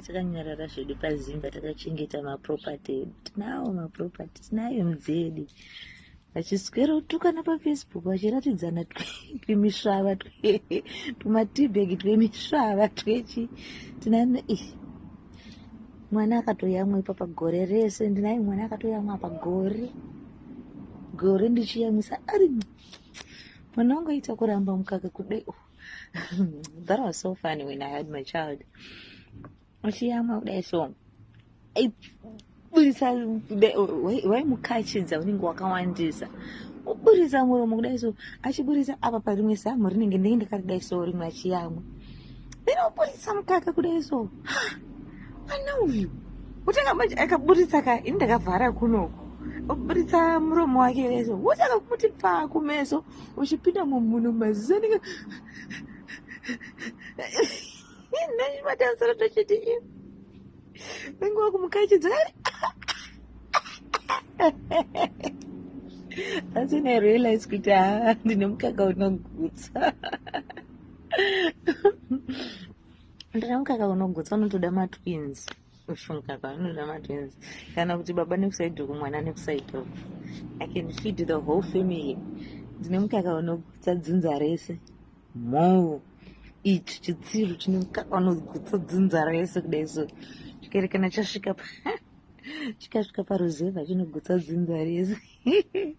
takanyarara zvedu pazimba takachengeta maproperty edu tinawo maproperty tinayo mdzedu vachiswera kutukana pafacebook vachiratidzana twimisvava tumatibag twemisvava twechi tinano i mwana akatoyamwa ipa pagore rese ndinayo mwana akatoyamwa pagore gore ndichiyamwisa ari mwana wangu aita kuramba mukaka kudai that was so funny when i had my child achiyamwa kudai so buritsa waimukachidza unenge wakawandisa oburitsa muromo kudai so achiburitsa apa parimwe zamu rinenge ndenge ndakadai so rimwe achiyamwa then oburitsa mukaka kudai so mwana uyu kutanga manje akaburitsa ka ini ndakavhara kunoku oburitsa muromo wake kudai so wotanga kumuti pfaa kumeso uchipinda mumunhu maziso anenge nani matansara tochiti iyo nenge wakumukachidza asi ne realize kuti haa ndine mukaka unogutsa ndine mukaka unogutsa unotoda matwins kushunga kwavanonda matenzi kana kuti baba nekusaidi uku mwana nekusaidi uku i can feed the whole family ndine mukaka unogutsa dzinza rese mhou ichi chitsiru chine mukaka unogutsa dzinza rese kudai so chikerekana chasvika pa chikasvika paruzevha chinogutsa dzinza rese